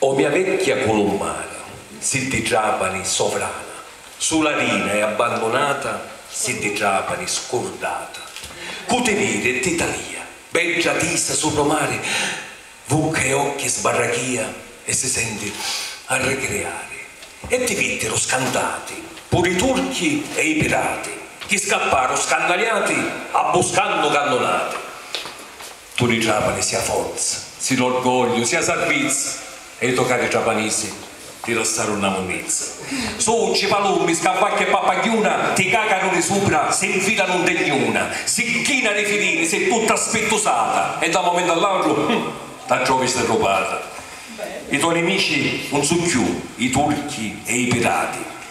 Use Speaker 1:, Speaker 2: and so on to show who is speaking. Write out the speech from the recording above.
Speaker 1: O mia vecchia culummara, siddi Trapani sovrana, sula rina e abbandunata, siddi Trapani scurdata, cu ti viri e ti talia, bedda tisa supra o mari, vucca e occhi sbarrachia e si senti a ricriari. E ti vittiru scantati puru i turchi e i pirati, chi scapparu scannaliati abbuscannu cannunati. Tu di Trapani si a forza, si l'orgogliu, si a sarbizza e i to cari trapanisi ti lassaru nna munnizza. Succi, palummi, scavacchi e pappagghiuna ti cacanu di supra, si nfilanu nte gnuna, si china di filini, si tutta spittusata e da un momentu all'autru, hum, ta trovi stirrupata. I to nimici un su cchiù i turchi e i pirati,